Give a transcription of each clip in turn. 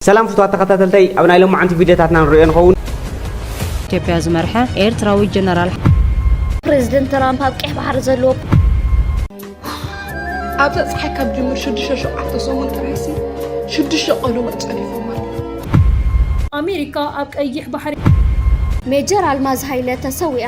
ሰላም ፍቱዋት ተኸታተልተይ ኣብ ናይ ሎማዓንቲ ቪድዮታትና ንሪኦ ንኸውን። ኢትዮጵያ ዝመርሐ ኤርትራዊ ጀነራል ፕረዚደንት ትራምፕ ኣብ ቀይሕ ባሕሪ ዘለዎ ኣብዛ ፀሓይ ካብ ጅምር ሽዱሽተ ሸውዓተ ሰሙን ጥራይሲ ሽዱሽተ ቀለዎት ፀዲፎም ኣለዉ። ኣሜሪካ ኣብ ቀይሕ ባሕሪ ሜጀር ኣልማዝ ሃይለ ተሰዊኣ።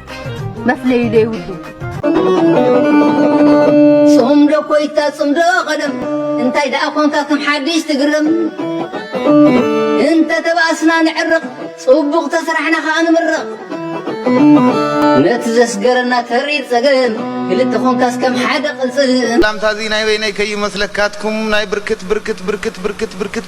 መፍለዩ ዘይብሉ ጽምዶ ኮይታ ጽምዶ ቀደም እንታይ ደኣ ኮንካ ከም ሓድሽ ትግረም እንተ ተባእስና ንዕርቕ ጽቡቕ ተስራሕና ከኣ ንምርቕ ነቲ ዘስገረና ተሪር ጸገም ክልተ ኮንካስ ከም ሓደ ቅልጽም ላምታዚ ናይ በይነይ ከይመስለካትኩም ናይ ብርክት ብርክት ብርክት ብርክት ብርክት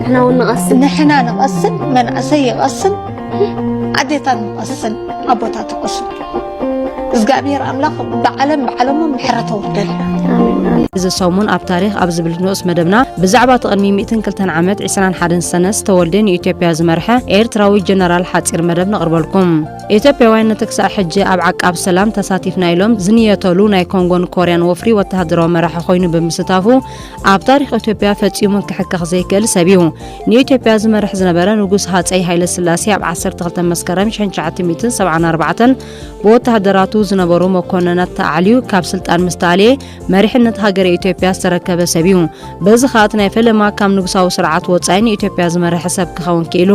ንሕና እውን ንቐስን ንሕና ንቐስን መናእሰይ ይቐስን ኣዴታት ንቐስን ኣቦታት ይቐስን እግዚኣብሔር ኣምላኽ ብዓለም ብዓለሞ ምሕረት ኣውርደልና እዚ ሰሙን ኣብ ታሪክ ኣብ ዝብል ንኡስ መደብና ብዛዕባ እቲ ቅድሚ 102 ዓመት 21 ሰነ ዝተወልደ ንኢትዮጵያ ዝመርሐ ኤርትራዊ ጀነራል ሓፂር መደብ ነቕርበልኩም ኢትዮጵያውያን ነቲ ክሳዕ ሕጂ ኣብ ዓቃብ ሰላም ተሳቲፍና ኢሎም ዝንየተሉ ናይ ኮንጎን ኮርያን ወፍሪ ወተሃደራዊ መራሒ ኮይኑ ብምስታፉ ኣብ ታሪኽ ኢትዮጵያ ፈጺሙ ክሕከኽ ዘይክእል ሰብ እዩ። ንኢትዮጵያ ዝመርሕ ዝነበረ ንጉስ ሃጸይ ሃይለ ስላሴ ኣብ 12 መስከረም 1974 ብወተሃደራቱ ዝነበሩ መኮንናት ተኣዕልዩ ካብ ስልጣን ምስ ተኣልየ መሪሕነት ሃገረ ኢትዮጵያ ዝተረከበ ሰብ እዩ። በዚ ከኣ እቲ ናይ ፈለማ ካብ ንጉሳዊ ስርዓት ወጻኢ ንኢትዮጵያ ዝመርሐ ሰብ ክኸውን ክኢሉ።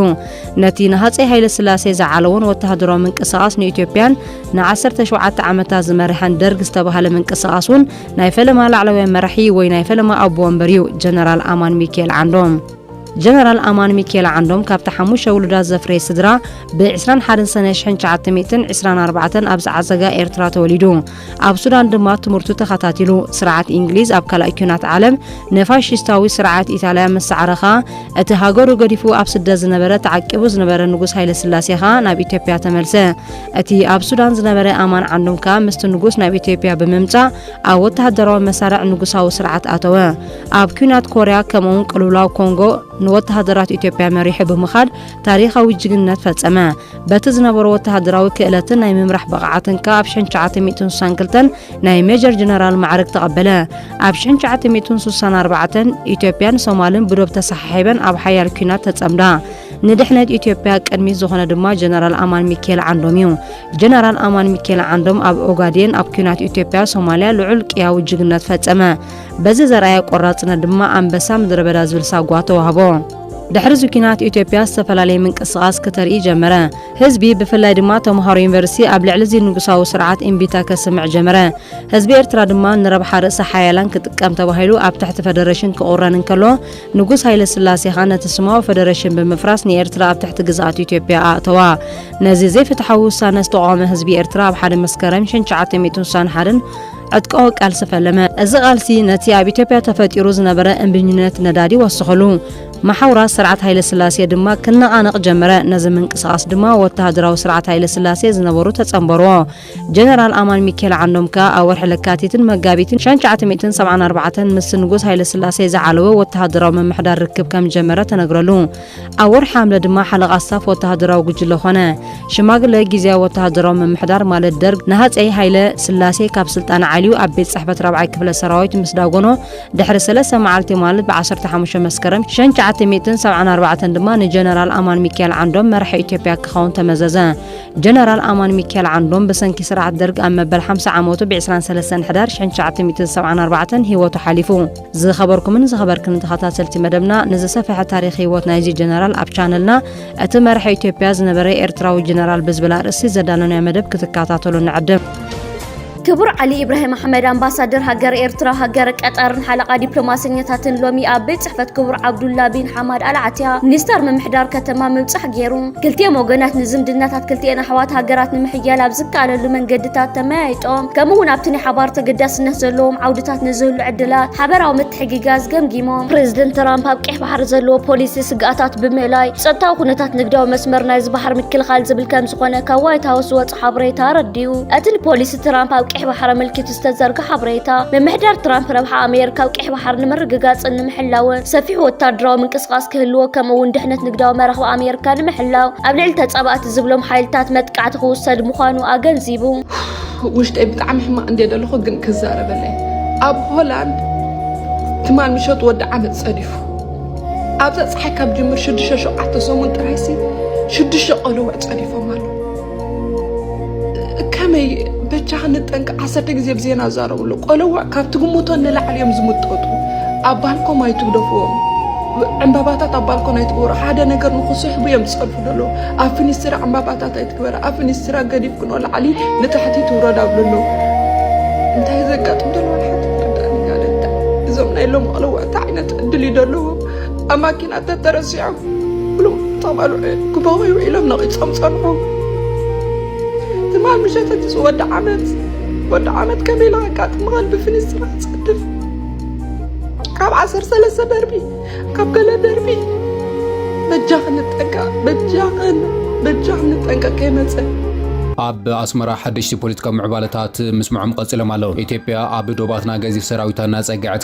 ነቲ ንሃጸይ ሃይለ ስላሴ ዝዓለዎን ወተሃደራዊ ምንቅስቓስ ንኢትዮጵያን ን17 ዓመታት ዝመርሐን ደርግ ዝተባህለ ምንቅስቓስ እውን ናይ ፈለማ ላዕለዋይ መራሒ ወይ ናይ ፈለማ ኣቦ ወንበር እዩ ጀነራል ኣማን ሚካኤል ዓንዶም። ጀነራል ኣማን ሚካኤል ዓንዶም ካብቲ ሓሙሽተ ውሉዳት ዘፍረየ ስድራ ብ21 ሰነ 1924 ኣብ ዝዓዘጋ ኤርትራ ተወሊዱ ኣብ ሱዳን ድማ ትምህርቱ ተኸታቲሉ ስርዓት እንግሊዝ ኣብ ካልኣይ ኲናት ዓለም ንፋሽስታዊ ስርዓት ኢጣልያ ምስ ሰዓረ ኸኣ እቲ ሃገሩ ገዲፉ ኣብ ስደት ዝነበረ ተዓቂቡ ዝነበረ ንጉስ ሃይለስላሴ ኸኣ ናብ ኢትዮጵያ ተመልሰ እቲ ኣብ ሱዳን ዝነበረ ኣማን ዓንዶም ከኣ ምስቲ ንጉስ ናብ ኢትዮጵያ ብምምጻእ ኣብ ወተሃደራዊ መሳርዕ ንጉሳዊ ስርዓት ኣተወ። ኣብ ኲናት ኮርያ ከምኡውን ቅልውላው ኮንጎ ንወተሃደራት ኢትዮጵያ መሪሑ ብምኻድ ታሪኻዊ ጅግንነት ፈጸመ። በቲ ዝነበሮ ወተሃደራዊ ክእለትን ናይ ምምራሕ ብቕዓትን ከኣ ኣብ 1962 ናይ ሜጀር ጀነራል ማዕርግ ተቐበለ። ኣብ 1964 ኢትዮጵያን ሶማልን ብዶብ ተሰሓሒበን ኣብ ሓያል ኲናት ተጸምዳ። ንድሕነት ኢትዮጵያ ቅድሚት ዝኾነ ድማ ጀነራል ኣማን ሚካኤል ዓንዶም እዩ። ጀነራል ኣማን ሚካኤል ዓንዶም ኣብ ኦጋዴን ኣብ ኩናት ኢትዮጵያ ሶማሊያ ልዑል ቅያዊ ጅግነት ፈጸመ። በዚ ዘርኣየ ቆራጽነት ድማ ኣንበሳ ምድረበዳ ዝብል ሳጓ ተዋህቦ። ድሕሪ እዚ ኩናት ኢትዮጵያ ዝተፈላለየ ምንቅስቓስ ክተርኢ ጀመረ። ህዝቢ ብፍላይ ድማ ተምሃሮ ዩኒቨርሲቲ ኣብ ልዕሊ እዚ ንጉሳዊ ስርዓት እምቢታ ከስምዕ ጀመረ። ህዝቢ ኤርትራ ድማ ንረብሓ ርእሰ ሓያላን ክጥቀም ተባሂሉ ኣብ ትሕቲ ፈደረሽን ክቑረን እንከሎ ንጉስ ሃይለስላሴ ኸኣ ነቲ ስማዊ ፈደረሽን ብምፍራስ ንኤርትራ ኣብ ትሕቲ ግዝኣት ኢትዮጵያ ኣእተዋ። ነዚ ዘይፍትሓዊ ውሳነ ዝተቋወመ ህዝቢ ኤርትራ ኣብ ሓደ መስከረም ሽን ትሽዓተ ሚእትን ስሳን ሓደን ዕጥቃዊ ቃልሲ ፈለመ። እዚ ቃልሲ ነቲ ኣብ ኢትዮጵያ ተፈጢሩ ዝነበረ እምቢኝነት ነዳዲ ወሰኸሉ። መሓውራት ስርዓት ሃይለስላሴ ድማ ክነቓነቕ ጀመረ። ነዚ ምንቅስቓስ ድማ ወተሃደራዊ ስርዓት ሃይለስላሴ ዝነበሩ ተጸንበሩዎ። ጀነራል ኣማን ሚኬል ዓንዶም ከኣ ኣብ ወርሒ ለካቲትን መጋቢትን ሸን ሸዓተ ሚእትን ሰብዓን ኣርባዕተን ምስ ንጉስ ሃይለስላሴ ዝዓለወ ወተሃደራዊ ምምሕዳር ርክብ ከም ዝጀመረ ተነግረሉ። ኣብ ወርሒ ሓምለ ድማ ሓለቓ ስታፍ ወተሃደራዊ ጉጅለ ኾነ። ሽማግለ ግዝያዊ ወተሃደራዊ ምምሕዳር ማለት ደርግ ንሃጸይ ሃይለ ስላሴ ካብ ስልጣን ዓልዩ ኣብ ቤት ጽሕፈት ራብዓይ ክፍለ ሰራዊት ምስ ዳጎኖ ድሕሪ ሰለስተ መዓልቲ ማለት ብ ዓሰርተ ሓሙሽተ መስከረም ሸን ሸዓተ ሚእትን ሰብዓን ኣርባዕተን ድማ ንጀነራል ኣማን ሚኬል ዓንዶም መራሒ ኢትዮጵያ ክኸውን ተመዘዘ። ጀነራል ኣማን ሚኪኤል ዓንዶም ብሰንኪ ስርዓት ደርግ ኣብ መበል ሓምሳ ዓመቱ ብ ዕስራን ሰለስተን ሕዳር ሽሕን ትሽዓተ ሚእትን ሰብዓን ኣርባዕተን ህይወቱ ሓሊፉ። ዝኸበርኩምን ዝኸበርክንን ተኸታተልቲ መደብና ንዝሰፈሐ ታሪኽ ህይወት ናይዚ ጀነራል ኣብ ቻነልና እቲ መራሒ ኢትዮጵያ ዝነበረ ኤርትራዊ ጀነራል ብዝብል ኣርእስቲ ዘዳለናዮ መደብ ክትከታተሉ ንዕድም። ክቡር ዓሊ ኢብራሂም ኣሕመድ ኣምባሳደር ሃገር ኤርትራ ሃገር ቀጠርን ሓለቓ ዲፕሎማሰኛታትን ሎሚ ኣብ ቤት ጽሕፈት ክቡር ዓብዱላ ቢን ሓማድ ኣልዓትያ ሚኒስተር ምምሕዳር ከተማ ምብጻሕ ገይሩ ክልቲኦም ወገናት ንዝምድናታት ክልቲኤን ኣሕዋት ሃገራት ንምሕያል ኣብ ዝከኣለሉ መንገድታት ተመያይጦም ከምኡ እውን ኣብቲ ናይ ሓባር ተገዳስነት ዘለዎም ዓውድታት ንዝህሉ ዕድላት ሓበራዊ ምትሕግጋዝ ገምጊሞም ፕሬዚደንት ትራምፕ ኣብ ቀይሕ ባሕሪ ዘለዎ ፖሊሲ ስግኣታት ብምእላይ ጸጥታዊ ኩነታት ንግዳዊ መስመር ናይዚ ባሕሪ ምክልኻል ዝብል ከም ዝኾነ ካብ ዋይት ሃውስ ዝወጽ ሓበሬታ ኣረዲኡ። እቲ ንፖሊሲ ትራምፕ ኣብ ቀይሕ ባሕሪ ኣመልኪቱ ዝተዘርገ ሓበሬታ፣ ምምሕዳር ትራምፕ ረብሓ ኣሜሪካ ኣብ ቀይሕ ባሕሪ ንምርግጋጽን ንምሕላውን ሰፊሕ ወተሃደራዊ ምንቅስቓስ ክህልዎ ከምኡ'ውን ድሕነት ንግዳዊ መራኽብ ኣሜሪካ ንምሕላው ኣብ ልዕሊ ተጻባእቲ ዝብሎም ሓይልታት መጥቃዕቲ ክውሰድ ምዃኑ ኣገንዚቡ። ውሽጠይ ብጣዕሚ ሕማቅ እንዴ ደለኹ ግን ክዛረበለይ ኣብ ሆላንድ ትማል ምሸት ወዲ ዓመት ጸዲፉ ኣብዛ ፀሓይ ካብ ጅምር ሽዱሽተ ሸውዓተ ሰሙን ጥራይሲ ሽዱሽተ ቆልዑ ጸዲፎም ኣሎ ከመይ በጃ ክንጠንቀ ዓሰርተ ግዜ ብዜና ዛረብሉ ቆለዋ ካብ ትግምቶ ንላዕሊ እዮም ዝምጠጡ ኣብ ባልኮም ኣይትግደፍዎም ዕምባባታት ኣብ ባልኮን ኣይትግበሩ ሓደ ነገር ንክስሕቡ እዮም ዝፀርፉ ደሎ ኣብ ፍኒስትራ ዕምባባታት ኣይትግበረ ኣብ ፍኒስትራ ገዲፍ ክኖ ላዕሊ ንታሕቲ ትውረድ ኣብሉ ኣሎ እንታይ ዘጋጥም ደሎ ሓንቲ ተረዳእኒ ጋደታ እዞም ናይ ሎም ቆለዋ እንታይ ዓይነት ዕድል እዩ ደለዎም ኣብ ማኪና ተተረሲዖም ብሉም ተቐልዑ ክበቑዩ ኢሎም ነቒጾም ጸንሑ ትማል ምሸት እቲ ወዲ ዓመት ወዲ ዓመት ከመይ ኢላ ኣጋጥምኻን ብፍንስትራ ጸድፍ ካብ ዓሰር ሰለስተ ደርቢ ካብ ገለ ደርቢ በጃኽ ንጠንቀ በጃኽን በጃኽ ንጠንቀ ከይመጸ ኣብ ኣስመራ ሓደሽቲ ፖለቲካዊ ምዕባለታት ምስምዖም ቀጺሎም ኣለዉ። ኢትዮጵያ ኣብ ዶባትና ገዚፍ ሰራዊታ እናጸግዐት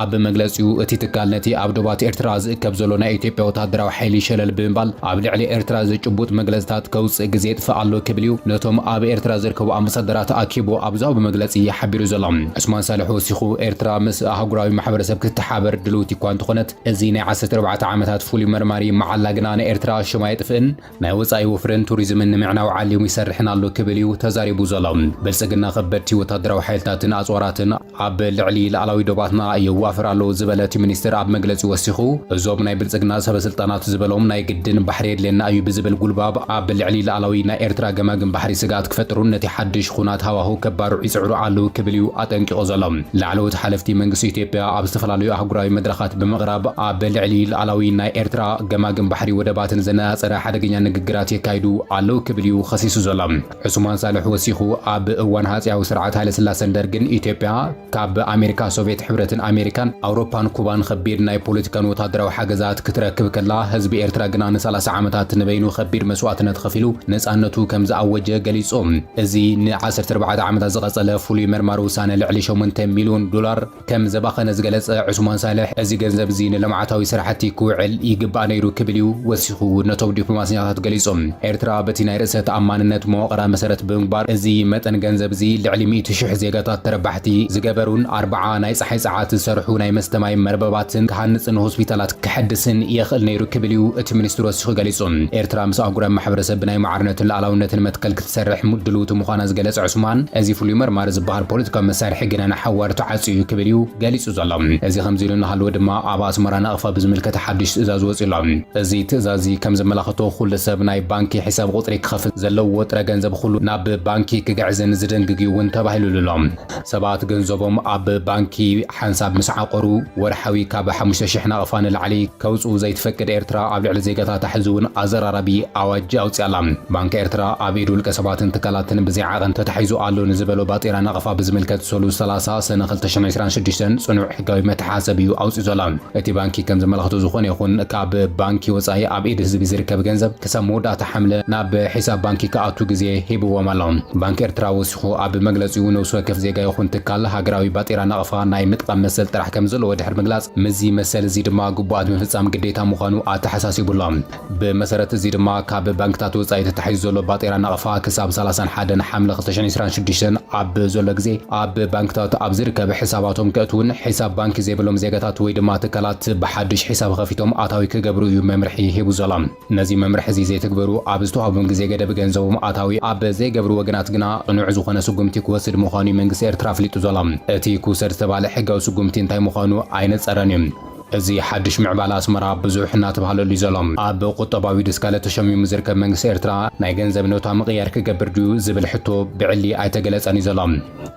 ኣብ መግለጺኡ፣ እቲ ትካል ነቲ ኣብ ዶባት ኤርትራ ዝእከብ ዘሎ ናይ ኢትዮጵያ ወተሃደራዊ ሓይሊ ሸለል ብምባል ኣብ ልዕሊ ኤርትራ ዘጭቡጥ መግለጺታት ከውጽእ ግዜ የጥፍእ ኣሎ ክብል እዩ ነቶም ኣብ ኤርትራ ዝርከቡ ኣምባሳደራት ኣኪቡ ኣብ ዝሃቦ መግለጺ ሓቢሩ ዘሎ። ዑስማን ሳልሕ ወሲኹ፣ ኤርትራ ምስ ኣህጉራዊ ማሕበረሰብ ክትተሓባበር ድልውቲ'ኳ እንተኾነት፣ እዚ ናይ ዓሰርተ ኣርባዕተ ዓመታት ፍሉይ መርማሪ መዓላ ግና ንኤርትራ ሽማ ኣየጥፍእን፣ ናይ ወጻኢ ወፍርን ቱሪዝምን ንምዕናው ዓሊሙ ይሰርሕን ኣሎ ክብል እዩ ተዛሪቡ ዘሎ። ብልጽግና ከበድቲ ወታደራዊ ሓይልታትን ኣጽዋራትን ኣብ ልዕሊ ልኣላዊ ዶባትና የዋፍር ኣሎ ዝበለ እቲ ሚኒስትር ኣብ መግለጺኡ ወሲኹ እዞም ናይ ብልጽግና ሰበስልጣናት ዝበሎም ናይ ግድን ባሕሪ የድልየና እዩ ብዝብል ጉልባብ ኣብ ልዕሊ ልኣላዊ ናይ ኤርትራ ገማግም ባሕሪ ስግኣት ክፈጥሩን ነቲ ሓድሽ ኹናት ሃዋሁ ከባርዑ ይጽዕሩ ኣለው ክብል እዩ ኣጠንቂቑ ዘሎ። ላዕለዎት ሓለፍቲ መንግስቲ ኢትዮጵያ ኣብ ዝተፈላለዩ ኣህጉራዊ መድረኻት ብምቕራብ ኣብ ልዕሊ ልኣላዊ ናይ ኤርትራ ገማግም ባሕሪ ወደባትን ዘነጻጸረ ሓደገኛ ንግግራት የካይዱ ኣለው ክብል እዩ ኸሲሱ ዘሎ። ዑሱማን ሳልሕ ወሲኹ ኣብ እዋን ሃጺያዊ ስርዓት ሃይለስላሰን ደርግን ኢትዮጵያ ካብ ኣሜሪካ፣ ሶቭየት ሕብረትን ኣሜሪካን፣ ኣውሮፓን ኩባን ኸቢድ ናይ ፖለቲካን ወታደራዊ ሓገዛት ክትረክብ ከላ ህዝቢ ኤርትራ ግና ንሳላሳ ዓመታት ንበይኑ ኸቢድ መስዋእትነት ኸፊሉ ነጻነቱ ከም ዝኣወጀ ገሊጹ። እዚ ንዓሰርተ ኣርባዕተ ዓመታት ዝቐጸለ ፍሉይ መርማሪ ውሳነ ልዕሊ ሸሞንተ ሚልዮን ዶላር ከም ዘባኸነ ዝገለጸ ዑስማን ሳልሕ፣ እዚ ገንዘብ'ዚ ንልምዓታዊ ስራሕቲ ክውዕል ይግባእ ነይሩ ክብል'ዩ ወሲኹ ነቶም ዲፕሎማሰኛታት ገሊጹ። ኤርትራ በቲ ናይ ርእሰ ተኣማንነት መዋቕራ መሰረት ብምግባር እዚ መጠን ገንዘብ'ዚ ልዕሊ ሚእቲ ሽሕ ዜጋታት ተረባሕቲ ዝገበሩን ኣርብዓ ናይ ጸሓይ ጸዓት ዝሰርሑ ናይ መስተ ማይ መርበባትን ክሃንጽን ሆስፒታላት ከሐድስን የኽእል ነይሩ ክብል'ዩ እቲ ሚኒስትር ወሲኹ ገሊጹ። ኤርትራ ምስ ኣህጉራዊ ማሕበረሰብ ብናይ ማዕርነትን ልኣላውነትን መትከል ትሰርሕ ድልውቲ ምዃና ዝገለጸ ዑስማን፣ እዚ ፍሉይ መርማሪ ዝበሃል ፖለቲካዊ መሳርሒ ግና ንሓዋሩ ተዓጽዩ እዩ ክብል እዩ ገሊጹ ዘሎ። እዚ ከምዚ ኢሉ እናሃለወ ድማ ኣብ ኣስመራ ናቕፋ ብዝምልከት ሓድሽ ትእዛዝ ወጺኡ ኣሎ። እዚ ትእዛዝ'ዚ ከም ዘመላኽቶ ኩሉ ሰብ ናይ ባንኪ ሒሳብ ቁጽሪ ክኸፍት፣ ዘለዎ ጥረ ገንዘብ ኹሉ ናብ ባንኪ ክግዕዝን ዝድንግግ እዩ'ውን ተባሂሉሉ ኣሎ። ሰባት ገንዘቦም ኣብ ባንኪ ሓንሳብ ምስ ዓቖሩ፣ ወርሓዊ ካብ ሓሙሽተ ሽሕ ናቕፋ ንላዕሊ ከውጽኡ ዘይትፈቅድ ኤርትራ፣ ኣብ ልዕሊ ዜጋታታ ሕዚ'ውን ኣዘራራቢ ኣዋጅ ኣውጺኣ ኣላ። ባንክ ኤርትራ፣ ኣብ ኢድ ውልቀሰባትን ትካላትን ብዘይ ዓቐን ተታሒዙ ኣሎ ንዝበሎ ባጤራ ናቕፋ ብዝምልከት ሰሉስ ሰላሳ ሰነ ክልተ ሽሕን ዕስራን ሽዱሽተን ጽኑዕ ሕጋዊ መተሓሰቢ'ዩ ኣውጺኡ ዘሎ። እቲ ባንኪ ከም ዘመላኽቶ ዝኾነ ይኹን ካብ ባንኪ ወጻኢ ኣብ ኢድ ህዝቢ ዝርከብ ገንዘብ ክሳብ መወዳእታ ሓምለ ናብ ሒሳብ ባንኪ ክኣቱ ግዜ ሂብዎም ኣሎ። ባንክ ኤርትራ ሽኾ ኣብ መግለጺኡ፣ ነብሲ ወከፍ ዜጋ ይኹን ትካል ሃገራዊ ባጤራ ናቕፋ ናይ ምጥቓም መሰል ጥራሕ ከምዘለዎ ድሕሪ ምግላጽ፣ ምስዚ መሰል እዚ ድማ ግቡኣት ምፍጻም ግዴታ ምዃኑ ኣተሓሳሲቡ ኣሎ። ብመሰረት እዚ ድማ ካብ ባንክታት ወጻኢ ተታሒዙ ዘሎ ባጤራ ናቕፋ ክሳብ ሰላሳን ሓደን ሓምለ ክልተ ሽሕን ዕስራን ሽዱሽተን ኣብ ዘሎ ግዜ ኣብ ባንክታት ኣብ ዝርከብ ሕሳባቶም ከእትዉን ሕሳብ ባንኪ ዘይብሎም ዜጋታት ወይ ድማ ትካላት ብሓድሽ ሕሳብ ኸፊቶም ኣታዊ ክገብሩ እዩ መምርሒ ሂቡ ዘሎ። ነዚ መምርሒ እዚ ዘይትግበሩ ኣብ ዝተዋህቡም ግዜ ገደብ ገንዘቦም ኣታዊ ኣብ ዘይገብሩ ወገናት ግና ቅኑዕ ዝኾነ ስጉምቲ ክወስድ ምዃኑ'ዩ መንግስቲ ኤርትራ ኣፍሊጡ ዘሎ። እቲ ክውሰድ ዝተባህለ ሕጋዊ ስጉምቲ እንታይ ምዃኑ ኣይነጸረን'ዩ። እዚ ሓድሽ ምዕባለ ኣስመራ ብዙሕ እናተባህለሉ'ዩ ዘሎ። ኣብ ቁጠባዊ ድስካለ ተሸሚሙ ዝርከብ መንግስቲ ኤርትራ ናይ ገንዘብ ኖታ ምቕያር ክገብር ድዩ ዝብል ሕቶ ብዕሊ ኣይተገለጸን'ዩ ዘሎ።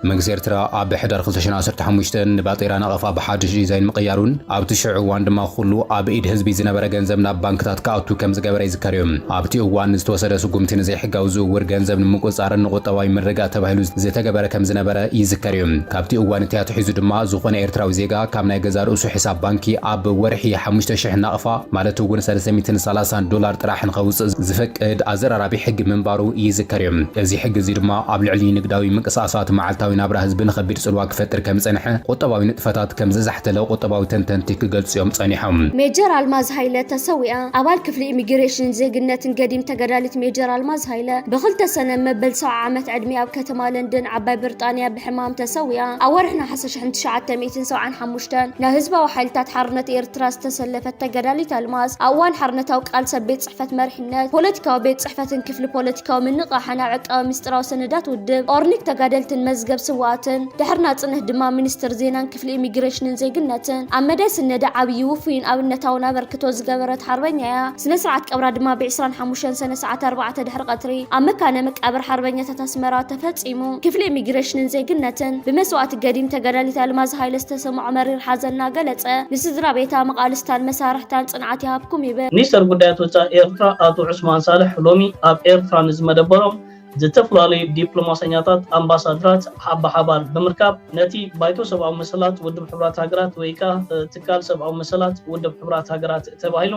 መንግስቲ ኤርትራ ኣብ ሕዳር ክልተ ሽሕን ዓሰርተ ሓሙሽተን ንባጤራ ናቐፋ ብሓድሽ ዲዛይን ምቕያሩን ኣብቲ ሽዑ እዋን ድማ ኩሉ ኣብ ኢድ ህዝቢ ዝነበረ ገንዘብ ናብ ባንክታት ክኣቱ ከምዝገበረ ይዝከር እዩ። ኣብቲ እዋን ዝተወሰደ ስጉምቲ ንዘይሕጋዊ ዝውውር ገንዘብ ንምቁጽጻርን ንቁጠባዊ ምርግጋእ ተባሂሉ ዝተገበረ ከምዝነበረ ይዝከር እዩ። ካብቲ እዋን እቲ ኣትሒዙ ድማ ዝኾነ ኤርትራዊ ዜጋ ካብ ናይ ገዛእ ርእሱ ሕሳብ ባንኪ ኣብ ወርሒ ሓሙሽተ ሽሕ ናቕፋ ማለት እውን ሰለስተ ሚእትን ሰላሳን ዶላር ጥራሕ ንኸውጽእ ዝፈቅድ ኣዘራራቢ ሕጊ ምንባሩ ይዝከር እዩ። እዚ ሕጊ እዚ ድማ ኣብ ልዕሊ ንግዳዊ ምንቅስቓሳት መዓልታዊ ናብራ ህዝቢ ንኸቢድ ጽልዋ ክፈጥር ከም ዝጸንሐ፣ ቁጠባዊ ንጥፈታት ከም ዘዛሕተለ ቁጠባዊ ተንተንቲ ክገልጹ'ዮም ጸኒሖም። ሜጀር ኣልማዝ ሃይለ ተሰዊኣ። ኣባል ክፍሊ ኢሚግሬሽንን ዜግነትን ገዲም ተጋዳሊት ሜጀር ኣልማዝ ሃይለ ብ ክልተ ሰነ መበል ሰብዓ ዓመት ዕድሚኣ ኣብ ከተማ ለንደን ዓባይ ብርጣንያ ብሕማም ተሰዊኣ። ኣብ ወርሒ ነሓሰ ሽሕን ትሽዓተ ሚእትን ሰብዓን ሓሙሽተን ናብ ህዝባዊ ሓይልታት ሓርነት ኤርትራ ዝተሰለፈት ተጋዳሊት ኣልማዝ ኣብ እዋን ሓርነታዊ ቃልሲ ኣብ ቤት ጽሕፈት መሪሕነት ፖለቲካዊ ቤት ጽሕፈትን ክፍሊ ፖለቲካዊ ምንቕቓሕን ኣብ ዕቃበ ምስጢራዊ ሰነዳት ውድብ ኦርኒክ ተጋደልትን መዝገብ ስውኣትን ድሕሪ ናጽነት ድማ ሚኒስትር ዜናን ክፍሊ ኢሚግሬሽንን ዜግነትን ኣብ መዳይ ስነዳ ዓብዪ፣ ውፉይን ኣብነታውን ኣበርክቶ ዝገበረት ሓርበኛ እያ። ስነ ስርዓት ቀብራ ድማ ብ ዕስራን ሓሙሽተን ሰነ ሰዓት ኣርባዕተ ድሕሪ ቀትሪ ኣብ መካነ መቃብር ሓርበኛታት ኣስመራ ተፈጺሙ። ክፍሊ ኢሚግሬሽንን ዜግነትን ብመስዋእቲ ገዲም ተጋዳሊት ኣልማዝ ሃይለ ዝተሰምዖ መሪር ሓዘን እናገለጸ ንስድራቤታ፣ መቓልስታን መሳርሕታን ጽንዓት ይሃብኩም ይብል። ሚኒስተር ጉዳያት ወጻኢ ኤርትራ ኣቶ ዑስማን ሳልሕ ሎሚ ኣብ ኤርትራ ንዝመደበሮም ዝተፈላለዩ ዲፕሎማሰኛታት ኣምባሳድራት ብሓባር ብምርካብ ነቲ ባይቶ ሰብኣዊ መሰላት ውድብ ሕቡራት ሃገራት ወይ ከኣ ትካል ሰብኣዊ መሰላት ውድብ ሕቡራት ሃገራት ተባሂሉ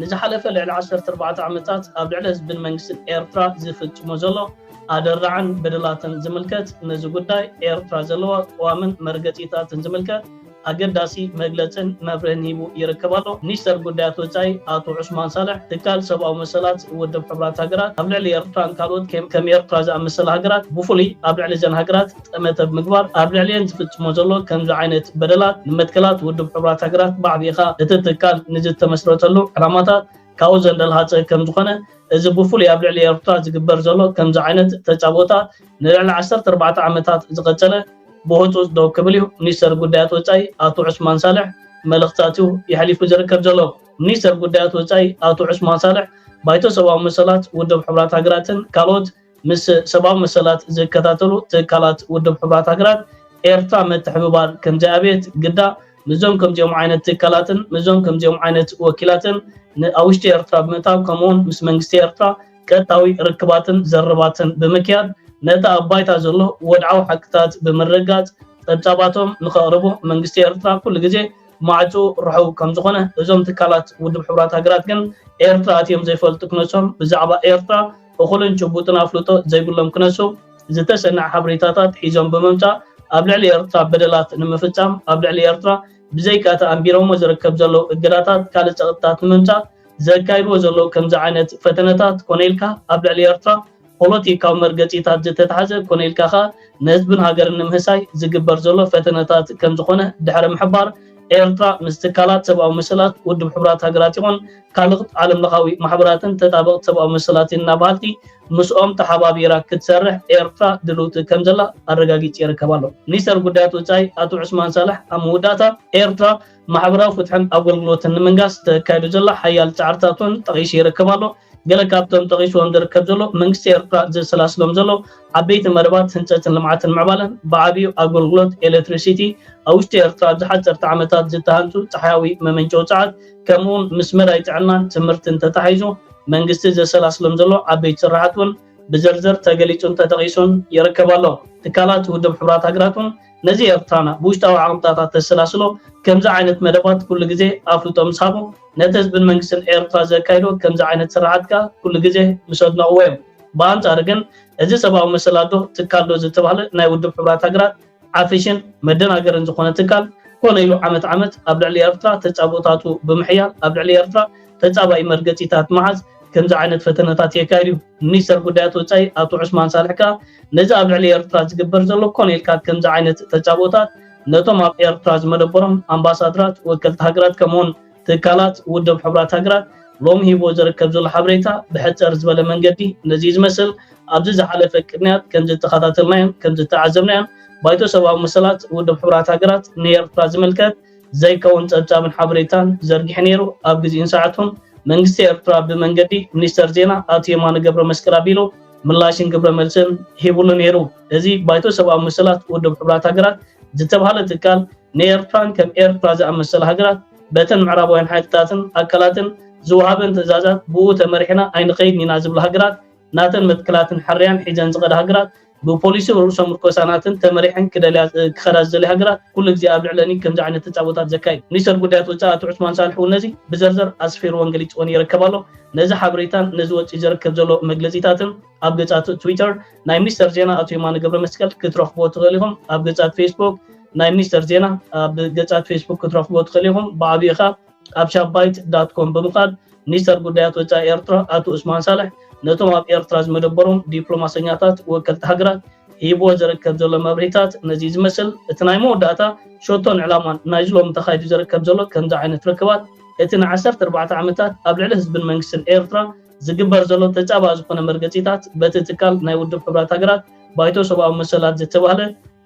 ንዝሓለፈ ልዕሊ ዓሰርተ ኣርባዕተ ዓመታት ኣብ ልዕሊ ህዝብን መንግስትን ኤርትራ ዝፍጽሞ ዘሎ ኣደራዕን በደላትን ዝምልከት ነዚ ጉዳይ ኤርትራ ዘለዋ ቅዋምን መርገጺታትን ዝምልከት ኣገዳሲ መግለጽን መብርህን ሂቡ ይርከብ ኣሎ። ሚኒስተር ጉዳያት ወጻኢ ኣቶ ዑስማን ሳልሕ፣ ትካል ሰብኣዊ መሰላት ውድብ ሕቡራት ሃገራት ኣብ ልዕሊ ኤርትራን ካልኦት ከም ኤርትራ ዝኣመሰላ ሃገራት ብፍሉይ ኣብ ልዕሊ እዘን ሃገራት ጠመተ ብምግባር ኣብ ልዕሊኤን ዝፍጽሞ ዘሎ ከምዚ ዓይነት በደላት ንመትከላት ውድብ ሕቡራት ሃገራት ብዓቢኻ እቲ ትካል ንዝተመስረተሉ ዕላማታት ካብኡ ዘንደልሃጸ ከምዝኾነ እዚ ብፍሉይ ኣብ ልዕሊ ኤርትራ ዝግበር ዘሎ ከምዚ ዓይነት ተጻብኦታት ንልዕሊ ዓሰርተ ኣርባዕተ ዓመታት ዝቐጸለ ብህጹጽ ደው ክብል እዩ ሚኒስተር ጉዳያት ወጻኢ ኣቶ ዑስማን ሳልሕ መልእኽትታት እዩ የሕሊፉ ዝርከብ ዘሎ። ሚኒስተር ጉዳያት ወጻኢ ኣቶ ዑስማን ሳልሕ ባይቶ ሰብኣዊ መሰላት ውድብ ሕቡራት ሃገራትን ካልኦት ምስ ሰብኣዊ መሰላት ዝከታተሉ ትካላት ውድብ ሕቡራት ሃገራት ኤርትራ ምትሕብባር ከምዘይኣብየት ግዳ ምስዞም ከምዚኦም ዓይነት ትካላትን ምስዞም ከምዚኦም ዓይነት ወኪላትን ን ኣብ ውሽጢ ኤርትራ ብምእታው ከምኡውን ምስ መንግስቲ ኤርትራ ቀጥታዊ ርክባትን ዘረባትን ብምክያድ ነቲ ኣብ ባይታ ዘሎ ወድዓዊ ሓቅታት ብምርግጋጽ ጸብጻባቶም ንኸቕርቡ መንግስቲ ኤርትራ ኩሉ ግዜ ማዕጽኡ ርሑው ከም ዝኾነ እዞም ትካላት ውድብ ሕቡራት ሃገራት ግን ኤርትራ ኣትዮም ዘይፈልጡ ክነሶም ብዛዕባ ኤርትራ እኹልን ጭቡጥን ኣፍልጦ ዘይብሎም ክነሱ ዝተሰነዐ ሓበሬታታት ሒዞም ብምምጻእ ኣብ ልዕሊ ኤርትራ በደላት ንምፍጻም ኣብ ልዕሊ ኤርትራ ብዘይካ'ቲ ኣንቢሮሞ ዝርከብ ዘለዉ እገዳታት ካልእ ጸቕጥታት ንምምጻእ ዘካይድዎ ዘለዉ ከምዚ ዓይነት ፈተነታት ኮነ ኢልካ ኣብ ልዕሊ ኤርትራ ፖሎቲካዊ መርገጺታት ዝተታሕዘ ኮነ ኢልካ ከኣ ንህዝብን ሃገርን ንምህሳይ ዝግበር ዘሎ ፈተነታት ከምዝኾነ ድሕሪ ምሕባር ኤርትራ ምስ ትካላት ሰብኣዊ መሰላት ውድብ ሕቡራት ሃገራት ይኹን ካልእት ዓለምለኻዊ ማሕበራትን ተጣበቕቲ ሰብኣዊ መሰላትን ኢና በሃልቲ ምስኦም ተሓባቢራ ክትሰርሕ ኤርትራ ድልውቲ ከምዘላ ኣረጋጊጺ ይርከብ ኣሎ ሚኒስተር ጉዳያት ወጻኢ ኣቶ ዑስማን ሳልሕ ኣብ መወዳእታ ኤርትራ ማሕበራዊ ፍትሕን ኣገልግሎትን ንምንጋስ ተካይዱ ዘሎ ሓያል ጻዕርታት እውን ጠቒሱ ይርከብ ኣሎ። ገለ ካብቶም ጠቒሱዎም ዝርከብ ዘሎ መንግስቲ ኤርትራ ዘሰላስሎም ዘሎ ዓበይቲ መደባት ህንጸትን ልምዓትን ምዕባለን ብዓብዩ ኣገልግሎት ኤለትሪሲቲ ኣብ ውሽጢ ኤርትራ ኣብ ዝሓጸርቲ ዓመታት ዝተሃንጹ ጸሓያዊ መመንጨዊ ጸዓት ከምኡውን ምስ መዳይ ጥዕናን ትምህርትን ተታሒዙ መንግስቲ ዘሰላስሎም ዘሎ ዓበይቲ ስራሓት እውን ብዝርዝር ተገሊጹን ተጠቒሱን ይርከብ ኣሎ። ትካላት ውድብ ሕቡራት ሃገራት እውን ነዚ ኤርትራና ብውሽጣዊ ዓቕምታታ ተሰላስሎ ከምዚ ዓይነት መደባት ኩሉ ግዜ ኣፍልጦ ምስ ሃቦ ነቲ ህዝብን መንግስትን ኤርትራ ዘካይዶ ከምዚ ዓይነት ስርሓት ከኣ ኩሉ ግዜ ምስ ኣድነቕዎ እዮም። ብኣንጻሩ ግን እዚ ሰብኣዊ መሰላትዶ ትካልዶ ዝተባህለ ናይ ውድብ ሕቡራት ሃገራት ዓፍሽን መደናገርን ዝኾነ ትካል ኮነ ኢሉ ዓመት ዓመት ኣብ ልዕሊ ኤርትራ ተጻብኦታቱ ብምሕያል ኣብ ልዕሊ ኤርትራ ተጻባኢ መርገጺታት ምሓዝ ከምዚ ዓይነት ፈተነታት የካይድ እዩ። ሚኒስተር ጉዳያት ወጻኢ ኣቶ ዑስማን ሳልሕ ከኣ ነዚ ኣብ ልዕሊ ኤርትራ ዝግበር ዘሎ ኮነ ኢልካ ከምዚ ዓይነት ተጻብኦታት ነቶም ኣብ ኤርትራ ዝመደበሮም ኣምባሳድራት፣ ወከልቲ ሃገራት ከምኡ'ውን ትካላት ውድብ ሕቡራት ሃገራት ሎሚ ሂብዎ ዘርከብ ዘሎ ሓበሬታ ብሕጸር ዝበለ መንገዲ ነዚ ዝመስል ኣብዚ ዝሓለፈ ቅንያት ከምዝተኸታተልናዮን ከምዝተዓዘብናዮን ባይቶ ሰብኣዊ መሰላት ውድብ ሕቡራት ሃገራት ንኤርትራ ዝምልከት ዘይከውን ጸብጻብን ሓበሬታን ዘርጊሑ ነይሩ። ኣብ ግዜኡን ሰዓቱን፣ መንግስቲ ኤርትራ ብመንገዲ ሚኒስተር ዜና ኣቶ የማነ ገብረመስቀል ኣቢሉ ምላሽን ግብረመልስን ሂብሉ ነይሩ። እዚ ባይቶ ሰብኣዊ መሰላት ውድብ ሕቡራት ሃገራት ዝተባህለ ትካል ንኤርትራን ከም ኤርትራ ዝኣመሰላ ሃገራት በተን ምዕራባውያን ሓይልታትን ኣካላትን ዝወሃበን ትእዛዛት ብኡ ተመሪሕና ኣይንኸይድን ኢና ዝብላ ሃገራት ናተን መትከላትን ሕርያን ሒዘን ዝኸዳ ሃገራት ብፖሊሲ ርኡሰ ምርኮሳናትን ተመሪሐን ክደልያ ክኸዳ ዝደልያ ሃገራት ኩሉ ግዜ ኣብ ልዕለኒ ከምዚ ዓይነት ተጻቦታት ዘካይድ ሚኒስተር ጉዳያት ወጻኢ ኣቶ ዑስማን ሳልሕ እውን ነዚ ብዘርዘር ኣስፊርዎን ገሊጽዎን ይረከብ ኣሎ። ነዚ ሓበሬታን ነዚ ወጺኡ ዘረከብ ዘሎ መግለጺታትን ኣብ ገጻት ትዊተር ናይ ሚኒስተር ዜና ኣቶ የማነ ገብረመስቀል ክትረኽብዎ ትኽእል ኢኹም። ኣብ ገጻት ፌስቡክ ናይ ሚኒስተር ዜና ኣብ ገጻት ፌስቡክ ክትረኽብዎ ትኽእል ኢኹም። ብዓቢኡ ከኣ ኣብ ሻባይት ዳት ኮም ብምኻድ ሚኒስተር ጉዳያት ወጻኢ ኤርትራ ኣቶ ኡስማን ሳልሕ ነቶም ኣብ ኤርትራ ዝመደበሮም ዲፕሎማሰኛታት ወከልቲ ሃገራት ሂብዎ ዝርከብ ዘሎ መብርሂታት ነዚ ዝመስል እቲ ናይ መወዳእታ ሸቶን ዕላማን ናይዚ ሎሚ ተኻይዱ ዝርከብ ዘሎ ከምዚ ዓይነት ርክባት እቲ ን ዓሰርተ ኣርባዕተ ዓመታት ኣብ ልዕሊ ህዝብን መንግስትን ኤርትራ ዝግበር ዘሎ ተጻባኢ ዝኾነ መርገጺታት በቲ ትካል ናይ ውድብ ሕቡራት ሃገራት ባይቶ ሰብኣዊ መሰላት ዝተባህለ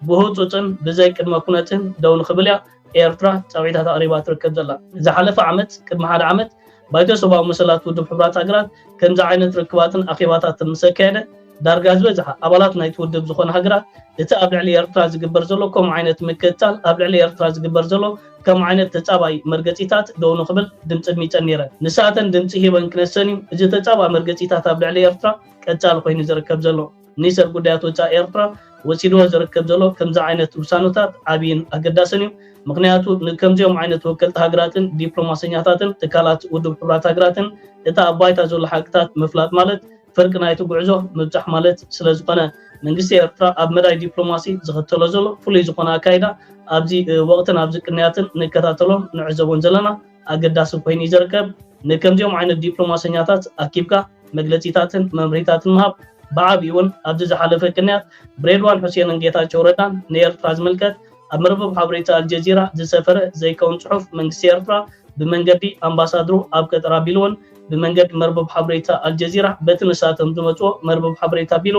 ብህጹጽን ብዘይ ቅድመ ኩነትን ደው ንኽብልያ ኤርትራ ጻውዒታት ኣቕሪባ ትርከብ ዘላ። ዝሓለፈ ዓመት፣ ቅድሚ ሓደ ዓመት፣ ባይቶ ሰብኣዊ መሰላት ውድብ ሕቡራት ሃገራት ከምዚ ዓይነት ርክባትን ኣኼባታትን ምስ ኣካየደ፣ ዳርጋ ዝበዝሓ ኣባላት ናይቲ ውድብ ዝኾና ሃገራት እቲ ኣብ ልዕሊ ኤርትራ ዝግበር ዘሎ ከምኡ ዓይነት ምክትታል ኣብ ልዕሊ ኤርትራ ዝግበር ዘሎ ከምኡ ዓይነት ተጻባኢ መርገጺታት ደው ንኽብል ድምጺ ኣድሚጸን ነይረን። ንሳተን ድምጺ ሂበን ክነሰን እዩ እዚ ተጻባኢ መርገጺታት ኣብ ልዕሊ ኤርትራ ቀጻሊ ኮይኑ ዝርከብ ዘሎ። ሚኒስተር ጉዳያት ወጻኢ ኤርትራ ወሲድዎ ዝርከብ ዘሎ ከምዚ ዓይነት ውሳነታት ዓብይን ኣገዳስን እዩ። ምኽንያቱ ንከምዚኦም ዓይነት ወከልቲ ሃገራትን ዲፕሎማሰኛታትን ትካላት ውድብ ሕቡራት ሃገራትን እቲ ኣብ ባይታ ዘሎ ሓቅታት ምፍላጥ ማለት ፍርቂ ናይቲ ጉዕዞ ምብጻሕ ማለት ስለዝኾነ መንግስቲ ኤርትራ ኣብ መዳይ ዲፕሎማሲ ዝኽተሎ ዘሎ ፍሉይ ዝኾነ ኣካይዳ ኣብዚ ወቕትን ኣብዚ ቅንያትን ንከታተሎን ንዕዘቦን ዘለና ኣገዳሲ ኮይኑ እዩ ዝርከብ። ንከምዚኦም ዓይነት ዲፕሎማሰኛታት ኣኪብካ መግለጺታትን መምርሂታትን ምሃብ ብዓቢኡ ውን ኣብዚ ዝሓለፈ ቅንያት ብሬድዋን ሑሴንን ጌታቸው ረዳን ንኤርትራ ዝምልከት ኣብ መርበብ ሓበሬታ ኣልጀዚራ ዝሰፈረ ዘይከውን ጽሑፍ መንግስቲ ኤርትራ ብመንገዲ ኣምባሳድሩ ኣብ ቀጠር ኣቢሉውን ብመንገዲ መርበብ ሓበሬታ ኣልጀዚራ በቲ ንሳቶም ዝመጽዎ መርበብ ሓበሬታ ኣቢሉ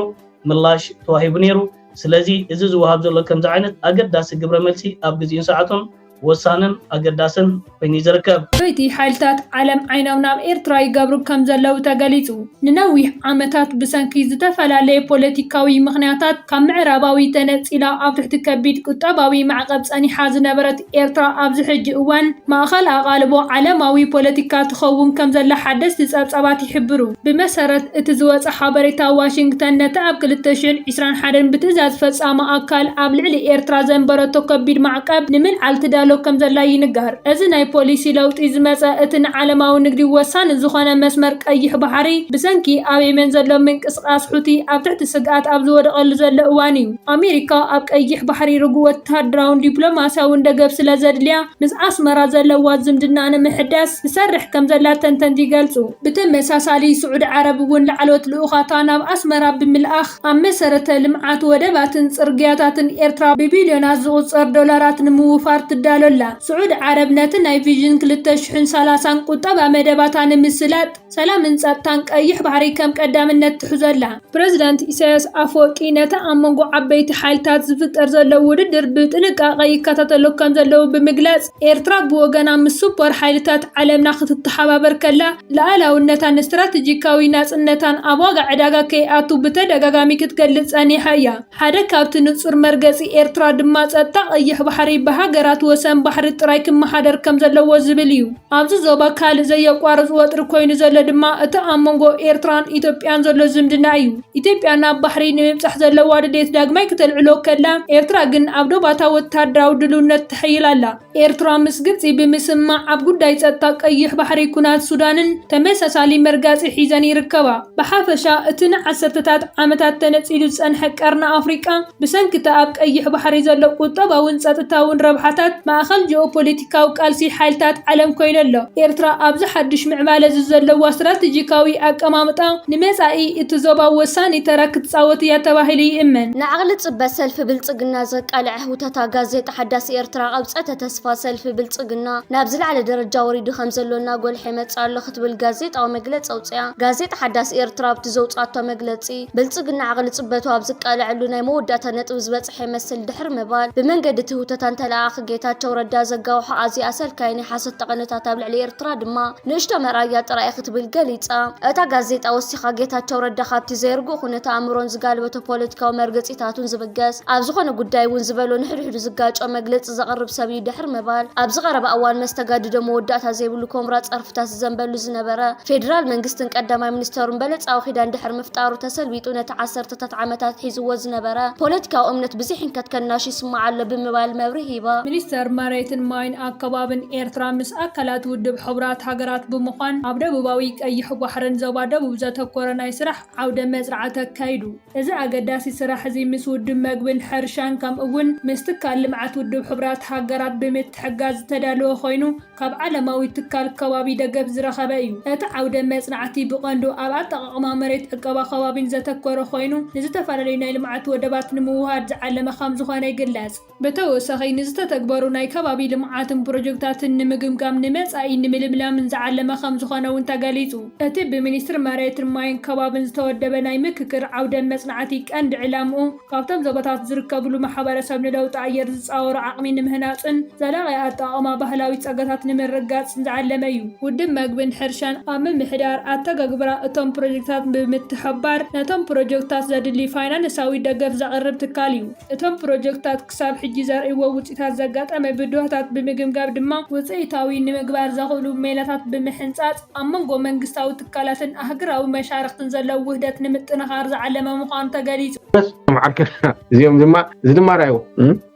ምላሽ ተዋሂቡ ነይሩ። ስለዚ እዚ ዝወሃብ ዘሎ ከምዚ ዓይነት ኣገዳሲ ግብረ መልሲ ኣብ ግዚኡን ሰዓቱን ወሳንን ኣገዳስን ኮይኑ እዩ ዝርከብ። ለይቲ ሓይልታት ዓለም ዓይኖም ናብ ኤርትራ ይገብሩ ከም ዘለዉ ተገሊጹ። ንነዊሕ ዓመታት ብሰንኪ ዝተፈላለየ ፖለቲካዊ ምኽንያታት ካብ ምዕራባዊ ተነጺላ ኣብ ትሕቲ ከቢድ ቁጠባዊ ማዕቀብ ጸኒሓ ዝነበረት ኤርትራ ኣብዚ ሕጂ እዋን ማእከል ኣቓልቦ ዓለማዊ ፖለቲካ ትኸውን ከም ዘላ ሓደስቲ ጸብጻባት ይሕብሩ። ብመሰረት እቲ ዝወጸ ሓበሬታ ዋሽንግተን ነቲ ኣብ ክልተ ሽሕን ዒስራን ሓደን ብትእዛዝ ፈጻሚ ኣካል ኣብ ልዕሊ ኤርትራ ዘንበረቶ ከቢድ ማዕቀብ ንምልዓል ትዳሎ ከምዘላ ይንገር። እዚ ናይ ፖሊሲ ለውጢ ዝመጸ እቲ ንዓለማዊ ንግዲ ወሳኒ ዝኾነ መስመር ቀይሕ ባሕሪ ብሰንኪ ኣብ የመን ዘሎ ምንቅስቓስ ሑቲ ኣብ ትሕቲ ስግኣት ኣብ ዝወደቐሉ ዘሎ እዋን'ዩ። ኣሜሪካ ኣብ ቀይሕ ባሕሪ ርጉእ ወተሃደራውን ዲፕሎማስያውን ደገፍ ስለዘድልያ ምስ ኣስመራ ዘለዋ ዝምድና ንምሕዳስ ትሰርሕ ከምዘላ ተንተንቲ ይገልጹ። ብተመሳሳሊ ስዑዲ ዓረብ እውን ላዕለዎት ልኡኻታ ናብ ኣስመራ ብምልኣኽ ኣብ መሰረተ ልምዓት ወደባትን ፅርግያታትን ኤርትራ ብቢልዮናት ዝቑፀር ዶላራት ንምውፋር ትዳሎ ኣላ። ስዑዲ ዓረብ ነቲ ናይ ቪዥን ክልተ ሽሕን ሰላሳን ቁጠባ መደባታ ንምስላጥ ሰላምን ፀጥታን ቀይሕ ባሕሪ ከም ቀዳምነት ትሕዞ ኣላ። ፕረዚዳንት ኢሳይያስ ኣፈወርቂ ነቲ ኣብ መንጎ ዓበይቲ ሓይልታት ዝፍጠር ዘሎ ውድድር ብጥንቃቐ ይከታተሎ ከም ዘለዉ ብምግላፅ፣ ኤርትራ ብወገና ምስ ስፖር ሓይልታት ዓለምና ክትተሓባበር ከላ፣ ልኣላውነታን ስትራተጂካዊ ናጽነታን ኣብ ዋጋ ዕዳጋ ከይኣቱ ብተደጋጋሚ ክትገልጽ ጸኒሓ እያ። ሓደ ካብቲ ንጹር መርገጺ ኤርትራ ድማ ጸጥታ ቀይሕ ባሕሪ ብሃገራት ወሰን ባሕሪ ጥራይ ክመሓደር ከም ዘለዎ ዝብል እዩ። ኣብዚ ዞባ ካልእ ዘየቋርጽ ወጥሪ ኮይኑ ዘሎ ድማ እቲ ኣብ መንጎ ኤርትራን ኢትዮጵያን ዘሎ ዝምድና እዩ። ኢትዮጵያ ናብ ባሕሪ ንምብጻሕ ዘለዋ ድሌት ዳግማይ ክተልዕሎ ከላ፣ ኤርትራ ግን ኣብ ዶባታ ወተሃደራዊ ድልውነት ተሐይል ኣላ። ኤርትራ ምስ ግብጺ ብምስምማዕ ኣብ ጉዳይ ጸጥታ ቀይሕ ባሕሪ ኩናት ሱዳንን ተመሳሳሊ መርጋጺ ሒዘን ይርከባ። ብሓፈሻ እቲ ንዓሰርተታት ዓመታት ተነጺሉ ዝጸንሐ ቀርኒ ኣፍሪቃ፣ ብሰንኪ'ቲ ኣብ ቀይሕ ባሕሪ ዘሎ ቁጠባውን ጸጥታውን ረብሓታት፣ ማእከል ጂኦፖለቲካዊ ቃልሲ ሓይልታት ዓለም ኮይኑ ኣሎ። ኤርትራ ኣብዚ ሓድሽ ምዕባለ'ዚ ዘለዋ ስትራተጂካዊ ኣቀማምጣ፣ ንመጻኢ እቲ ዞባ ወሳኒ ተራ ክትጻወት እያ ተባሂሉ ይእመን። ንዓቕሊ ጽበት ሰልፊ ብልጽግና ዘቃልዐ ህውተታ ጋዜጣ ሓዳስ ኤርትራ፣ ቀብጸተ ተስፋ ሰልፊ ብልጽግና ናብ ዝለዓለ ደረጃ ወሪዱ ከምዘሎ እናጎልሐ ይመጽእ ኣሎ ክትብል ጋዜጣዊ መግለጺ ኣውጺኣ። ጋዜጣ ሓዳስ ኤርትራ ኣብቲ ዘውጽኣቶ መግለጺ፣ ብልፅግና ዓቕሊ ፅበቱ ኣብ ዝቃለዐሉ ናይ መወዳእታ ነጥቢ ዝበፅሐ ይመስል ድሕሪ ምባል ብመንገዲ እቲ ህውተታን ተለኣኣኺ ጌታቸው ረዳ ዘጋውሖ ኣዝዩ ኣሰልካዪ ናይ ሓሶት ጠቐነታት ኣብ ልዕሊ ኤርትራ ድማ ንእሽቶ መርኣያ ጥራይ ክትብል ገሊጻ። እታ ጋዜጣ ወሲኻ ጌታቸው ረዳ ካብቲ ዘይርጉእ ኩነተ ኣእምሮን ዝጋልበቶ ፖለቲካዊ መርገጺታቱን ዝብገስ ኣብ ዝኾነ ጉዳይ እውን ዝበሎ ንሕድሕዱ ዝጋጮ መግለጺ ዘቕርብ ሰብ እዩ ድሕሪ ምባል ኣብዚ ቀረባ እዋን መስተጋድዶ መወዳእታ ዘይብሉ ኮምራ ጸርፊ ደብዳበታት ዝዘንበሉ ዝነበረ ፌዴራል መንግስትን ቀዳማይ ሚኒስተሩን በለጻዊ ኪዳን ድሕሪ ምፍጣሩ ተሰልቢጡ ነቲ ዓሰርተታት ዓመታት ሒዝዎ ዝነበረ ፖለቲካዊ እምነት ብዙሕ ህንከት ከናሹ ይስማዕ ኣሎ ብምባል መብርሂ ሂባ። ሚኒስተር መሬትን ማይን ኣከባብን ኤርትራ ምስ ኣካላት ውድብ ሕቡራት ሃገራት ብምዃን ኣብ ደቡባዊ ቀይሕ ባሕርን ዞባ ደቡብ ዘተኮረ ናይ ስራሕ ዓውደ መጽርዓት ኣካይዱ። እዚ ኣገዳሲ ስራሕ'ዚ ምስ ውድብ መግብን ሕርሻን ከምኡ'ውን ምስ ትካል ልምዓት ውድብ ሕቡራት ሃገራት ብምትሕግጋዝ ዝተዳለወ ኮይኑ፣ ካብ ዓለማዊ ትካል ከባቢ ደገፍ ዝረኸበ እዩ። እቲ ዓውደ መጽናዕቲ ብቐንዱ ኣብ ኣጠቓቕማ መሬት፣ ዕቀባ ከባቢን ዘተኮረ ኮይኑ፣ ንዝተፈላለዩ ናይ ልምዓት ወደባት ንምውህሃድ ዝዓለመ ከምዝኾነ ይግለጽ። ብተወሳኺ ንዝተተግበሩ ናይ ከባቢ ልምዓትን ፕሮጀክታትን ንምግምጋም ንመጻኢ ንምልምላምን ዝዓለመ ከምዝኾነ እውን ተገሊጹ። እቲ ብሚኒስትሪ መሬትን ማይን ከባብን ዝተወደበ ናይ ምክክር ዓውደ መጽናዕቲ ቀንዲ ዕላምኡ፣ ካብቶም ዞባታት ዝርከብሉ ማሕበረሰብ ንለውጢ ኣየር ዝፃወሮ ዓቕሚ ንምህናፅን ዘላቒ ኣጠቓቕማ ባህላዊ ፀጋታት ንምርግጋፅን ዝዓለመ እዩ። ውድብ መግብን ሕርሻን ኣብ ምምሕዳር ኣተገግብራ እቶም ፕሮጀክትታት ብምትሕብባር ነቶም ፕሮጀክትታት ዘድሊ ፋይናንሳዊ ደገፍ ዘቕርብ ትካል እዩ። እቶም ፕሮጀክትታት ክሳብ ሕጂ ዘርእይዎ ውፅኢታት ዘጋጠመ ብድሆታት ብምግምጋም ድማ ውፅኢታዊ ንምግባር ዘኽእሉ ሜላታት ብምሕንፃፅ ኣብ መንጎ መንግስታዊ ትካላትን ኣህግራዊ መሻርኽትን ዘሎ ውህደት ንምጥንኻር ዝዓለመ ምዃኑ ተገሊፁ። እዞም ዓርከና እዚኦም ድማ እዚ ድማ ራዩ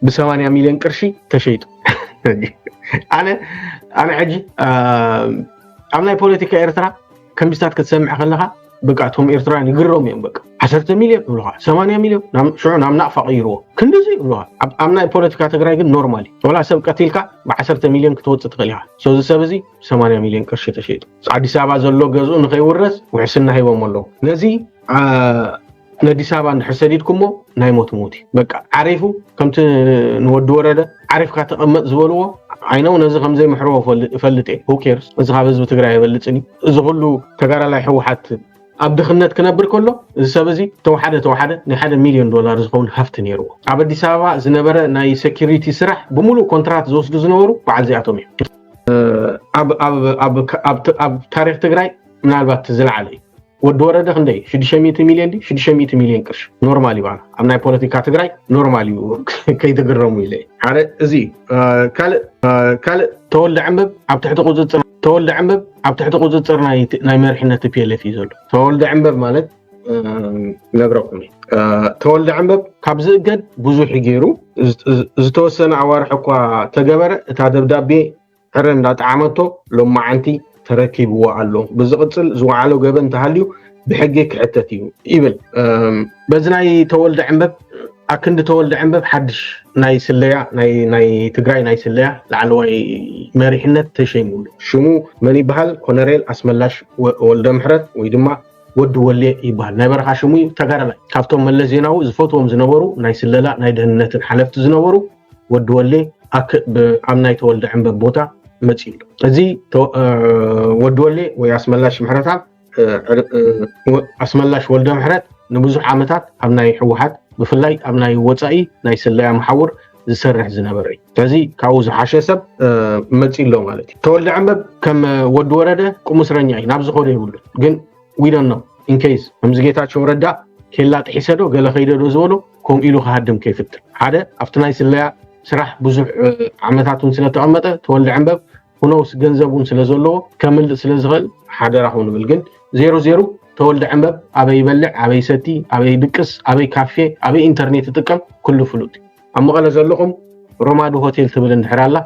ብሰማንያ ሚሊዮን ቅርሺ ተሸይጡ ኣነ ኣነ ሕጂ ኣብ ናይ ፖለቲካ ኤርትራ ከምዚታት ክትሰምዕ ከለካ በቃ እቶም ኤርትራውያን ይግረሙ እዮም በቃ ዓሰርተ ሚልዮን ይብልካ ሰማንያ ሚልዮን ሽዑ ናብ ናቕፋ ቀይርዎ ክንዲዚ ይብልካ ኣብ ናይ ፖለቲካ ትግራይ ግን ኖርማል እዩ ወላ ሰብ ቀቲልካ ብዓሰርተ ሚልዮን ክትወፅእ ትኽእል ኢኻ ሰዚ ሰብ እዚ ሰማንያ ሚልዮን ቅርሺ ተሸይጡ ኣዲስ ኣበባ ዘሎ ገዝኡ ንኸይውረስ ውሕስና ሂቦሞ ኣለዉ ነዚ ነዲስ ኣበባ እንድሕር ሰዲድኩሞ ናይ ሞት ምውት እዩ በቃ ዓሪፉ ከምቲ ንወዲ ወረደ ዓሪፍካ ተቐመጥ ዝበልዎ ዓይነው ነዚ ከምዘይምሕርዎ እፈልጥ እየ ሁኬርስ እዚ ካብ ህዝቢ ትግራይ የበልፅን እዩ እዚ ኩሉ ተጋዳላይ ሕወሓት ኣብ ድኽነት ክነብር ከሎ እዚ ሰብ እዚ ተወሓደ ተወሓደ ናይ ሓደ ሚልዮን ዶላር ዝኸውን ሃፍቲ ነይርዎ ኣብ ኣዲስ ኣበባ ዝነበረ ናይ ሴኪሪቲ ስራሕ ብምሉእ ኮንትራት ዝወስዱ ዝነበሩ በዓል እዚኣቶም እዮም ኣብ ታሪክ ትግራይ ምናልባት ዝለዓለ እዩ ወዲ ወረደ ክንደይ 600 ሚሊዮን ዲ 600 ሚሊዮን ቅርሺ ኖርማል እዩ ኣብ ናይ ፖለቲካ ትግራይ ኖርማል እዩ ከይትግረሙ ኢለ ሓደ እዚ ካልእ ተወልደ ዕምብ ኣብ ትሕቲ ቁፅፅር ተወልደ ዕምብ ኣብ ትሕቲ ቁፅፅር ናይ መሪሕነት ፒኤልኤፍ እዩ ዘሎ ተወልደ ዕምበብ ማለት ነግረኩም ተወልደ ዕንበብ ካብ ዝእገድ ብዙሕ ገይሩ ዝተወሰነ ኣዋርሕ እኳ ተገበረ እታ ደብዳቤ ዕረ እንዳጠዓመቶ ሎማዓንቲ ተረኪብዎ ኣሎ ብዝቕፅል ዝወዓሎ ገበን ተሃልዩ ብሕጊ ክሕተት እዩ ይብል በዚ ናይ ተወልደ ዕንበብ ኣክንዲ ተወልደ ዕንበብ ሓድሽ ናይ ስለያ ናይ ትግራይ ናይ ስለያ ላዕለዋይ መሪሕነት ተሸይሙሉ ሽሙ መን ይበሃል ኮነሬል ኣስመላሽ ወልደ ምሕረት ወይ ድማ ወዲ ወሌ ይበሃል ናይ በረኻ ሽሙ እዩ ተጋዳላይ ካብቶም መለስ ዜናዊ ዝፈትዎም ዝነበሩ ናይ ስለላ ናይ ደህንነትን ሓለፍቲ ዝነበሩ ወዲ ወሌ ኣብ ናይ ተወልደ ዕንበብ ቦታ መፅኡ ኣሎ እዚ ወዲ ወሌ ወይ ኣስመላሽ ምሕረታ ኣስመላሽ ወልደ ምሕረት ንብዙሕ ዓመታት ኣብ ናይ ህወሓት ብፍላይ ኣብ ናይ ወፃኢ ናይ ስለያ መሓውር ዝሰርሕ ዝነበረ እዩ ከዚ ካብኡ ዝሓሸ ሰብ መፂ ኣሎ ማለት እዩ ተወልደ ዕንበብ ከም ወዲ ወረደ ቁሙስረኛ እዩ ናብ ዝኮዶ ይብሉ ግን ዊዶን ነው ኢንኬይስ ከምዚ ጌታቸው ረዳ ኬላ ጥሒሰዶ ገለ ከይደዶ ዝበሎ ከምኡ ኢሉ ክሃድም ከይፍትን ሓደ ኣብቲ ናይ ስለያ ስራሕ ብዙሕ ዓመታት እውን ስለተቐመጠ ተወልደ ዕንበብ ሁኖውስ ገንዘብ እውን ስለ ዘለዎ ከምልጥ ስለ ዝኽእል ሓደራኹም ንብል ግን ዜሩ ዜሩ ተወልደ ዕንበብ ኣበይ ይበልዕ ኣበይ ሰቲ ኣበይ ድቅስ ኣበይ ካፌ ኣበይ ኢንተርኔት ይጥቀም ኩሉ ፍሉጥ እዩ ኣብ መቐለ ዘለኹም ሮማዱ ሆቴል ትብል እንድሕር ኣላ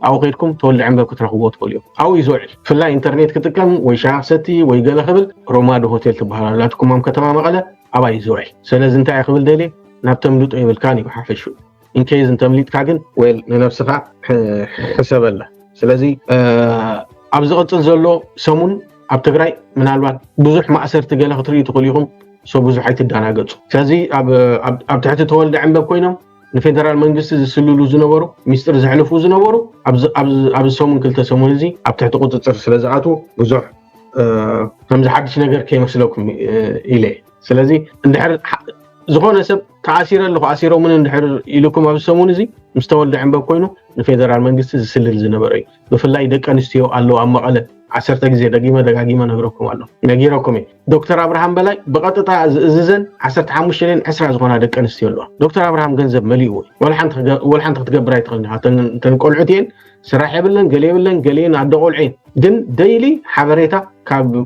ኣብኡ ከድኩም ተወልደ ዕንበብ ክትረኽብዎ ትኽእሉ እዮም ኣብኡ እዩ ዝውዕል ብፍላይ ኢንተርኔት ክጥቀም ወይ ሻቕ ሰቲ ወይ ገለ ክብል ሮማዱ ሆቴል ትበሃል ኣላትኩም ኣብ ከተማ መቐለ ኣብኣ እዩ ዝውዕል ስለዚ እንታይ ክብል ደልየ ናብ ተምልጦ ይብልካን እዩ ሓፈሽኡ ኢንኬዝ እንተምሊጥካ ግን ወል ንነብስኻ ሕሰበላ ስለዚ ኣብ ዝቕፅል ዘሎ ሰሙን ኣብ ትግራይ ምናልባት ብዙሕ ማእሰርቲ ገለ ክትርኢ ትኽእሉ ኢኹም ሰው ብዙሕ ኣይትደናገፁ ስለዚ ኣብ ትሕቲ ተወልደ ዕንበብ ኮይኖም ንፌደራል መንግስቲ ዝስልሉ ዝነበሩ ሚስጥር ዘሕልፉ ዝነበሩ ኣብዚ ሰሙን ክልተ ሰሙን እዚ ኣብ ትሕቲ ቁፅፅር ስለ ዝኣትዉ ብዙሕ ከምዚ ሓድሽ ነገር ከይመስለኩም ኢለ ስለዚ እንድሕር ዝኾነ ሰብ ተኣሲረ ኣለኹ ኣሲሮምኒ እንድሕር ኢሉኩም ኣብዚ ሰሙን እዚ ምስ ተወልደ ዕንበብ ኮይኑ ንፌደራል መንግስቲ ዝስልል ዝነበረ እዩ ብፍላይ ደቂ ኣንስትዮ ኣለዉ ኣብ መቐለ ዓሰርተ ግዜ ደጊመ ደጋጊመ ነግረኩም ኣሎ ነጊረኩም እየ ዶክተር ኣብርሃም በላይ ብቐጥታ ዝእዝዘን ዓሰርተ ሓሙሽተ ን ዕስራ ዝኾና ደቂ ኣንስትዮ ኣለዋ ዶክተር ኣብርሃም ገንዘብ መሊእዎ ወላ ሓንቲ ክትገብር ኣይትኽእልን ኢኻ እተን ቆልዑት እየን ስራሕ የብለን ገለ የብለን ገሊኤን ኣደ ቆልዑ እየን ግን ደይሊ ሓበሬታ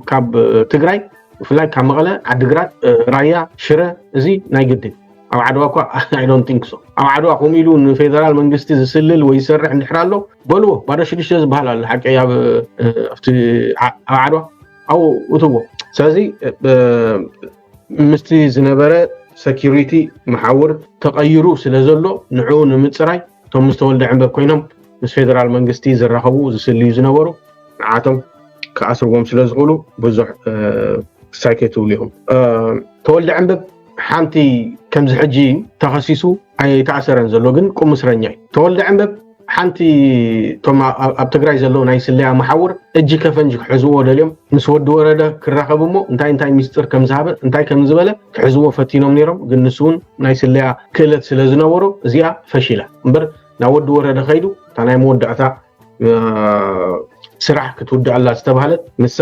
ካብ ትግራይ ብፍላይ ካብ መቐለ ዓዲግራት ራያ ሽረ እዚ ናይ ግድን ኣብ ዓድዋ እኳ ኣይዶን ቲንክ ሶ ኣብ ዓድዋ ከምኡ ኢሉ ንፌደራል መንግስቲ ዝስልል ወይ ዝሰርሕ እንድሕር ኣሎ በልዎ ባዶ ሽዱሽተ ዝበሃል ኣሎ ሓቂ ኣብ ዓድዋ ኣብኡ እትዎ ስለዚ ምስቲ ዝነበረ ሰኪሪቲ መሓውር ተቐይሩ ስለ ዘሎ ንዕኡ ንምፅራይ እቶም ምስ ተወልደ ዕንበብ ኮይኖም ምስ ፌደራል መንግስቲ ዝራኸቡ ዝስልዩ ዝነበሩ ንዓቶም ክኣስርዎም ስለ ዝኽእሉ ብዙሕ ክሳይ ከይትብሉ ኢኹም ተወልደ ዕንበብ ሓንቲ ከምዚ ሕጂ ተኸሲሱ ኣይተኣሰረን ዘሎ ግን ቁም እስረኛ እዩ ተወልደ ዕንበብ ሓንቲ እቶም ኣብ ትግራይ ዘለዉ ናይ ስለያ መሓውር እጂ ከፈንጂ ክሕዝዎ ደልዮም ምስ ወዲ ወረደ ክራኸብ እሞ እንታይ እንታይ ሚስጥር ከም ዝሃበ እንታይ ከም ዝበለ ክሕዝዎ ፈቲኖም ነይሮም ግን ንሱ እውን ናይ ስለያ ክእለት ስለ ዝነበሮ እዚኣ ፈሺላ እምበር ናብ ወዲ ወረደ ከይዱ እታ ናይ መወዳእታ ስራሕ ክትውድኣላ ዝተባህለት ንሳ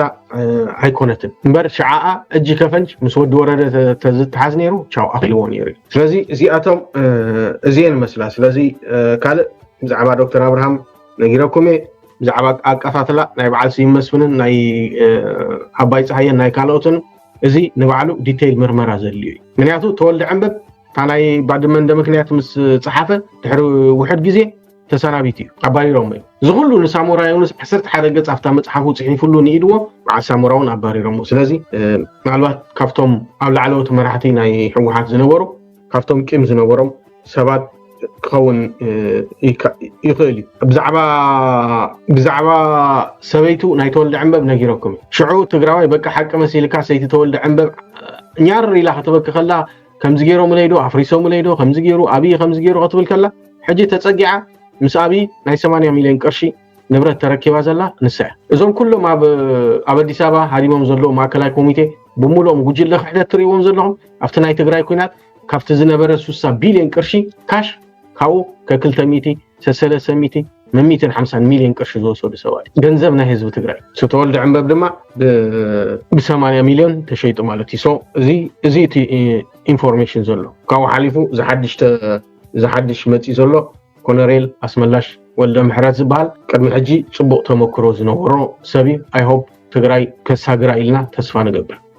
ኣይኮነትን እምበር ሽዓኣ እጂ ከፈንጅ ምስ ወዲ ወረደ ተዝተሓዝ ነይሩ ቻው ኣኪልዎ ነይሩ እዩ ስለዚ እዚኣቶም እዚየን መስላ ስለዚ ካልእ ብዛዕባ ዶክተር ኣብርሃም ነጊረኩም እየ ብዛዕባ ኣቀታትላ ናይ በዓል ስዩም መስፍንን ናይ ኣባይ ፀሃየን ናይ ካልኦትን እዚ ንባዕሉ ዲተይል ምርመራ ዘድልዮ እዩ ምክንያቱ ተወልደ ዕንበብ እታ ናይ ባድመ እንደ ምክንያት ምስ ፀሓፈ ድሕሪ ውሕድ ግዜ ተሰናቢቱ እዩ ኣባሪሮሞ እዩ እዚ ኩሉ ንሳሞራ ዮኑስ ዓሰርተ ሓደ ገፅ ኣብታ መፅሓፉ ፅሒፍሉ ንኢድዎ በዓል ሳሞራ እውን ኣባሪሮሞ ስለዚ ምናልባት ካብቶም ኣብ ላዕለዎት መራሕቲ ናይ ህወሓት ዝነበሩ ካብቶም ቂም ዝነበሮም ሰባት ክኸውን ይኽእል እዩ ብዛዕባ ሰበይቱ ናይ ተወልደ ዕንበብ ነጊረኩም እዩ ሽዑ ትግራዋይ በቂ ሓቂ መሲልካ ሰይቲ ተወልደ ዕንበብ ኛር ኢላ ክትበኪ ከላ ከምዚ ገይሮምለይ ዶ ኣፍሪሶምለይ ዶ ከምዚ ገይሩ ኣብይ ከምዚ ገይሩ ክትብል ከላ ሕጂ ተፀጊዓ ምስ ኣብይ ናይ 80 ሚልዮን ቅርሺ ንብረት ተረኪባ ዘላ ንሳ እያ። እዞም ኩሎም ኣብ ኣብ ኣዲስ ኣበባ ሃዲሞም ዘለዉ ማእከላይ ኮሚቴ ብምሉኦም ጉጅለ ክሕደት ትርእይዎም ዘለኹም ኣብቲ ናይ ትግራይ ኩናት ካብቲ ዝነበረ 60 ቢልዮን ቅርሺ ካሽ ካብኡ ከክልተ ሚእቲ ሰሰለሰ ሚእቲ መሚትን ሓምሳን ሚልዮን ቅርሺ ዝወሰዱ ሰባት ገንዘብ ናይ ህዝቢ ትግራይ ዝተወልደ ዕንበብ ድማ ብሰማንያ ሚልዮን ተሸይጡ ማለት እዩ እዚ እዚ እቲ ኢንፎርሜሽን ዘሎ ካብኡ ሓሊፉ ዝሓድሽ መፂ ዘሎ ኮነሬል ኣስመላሽ ወልደምሕረት ዝብሃል ቅድሚ ሕጂ ጽቡቅ ተመክሮ ዝነበሮ ሰብ እዩ ኣይ ሆፕ ትግራይ ከሳግራ ኢልና ተስፋ ንገብር።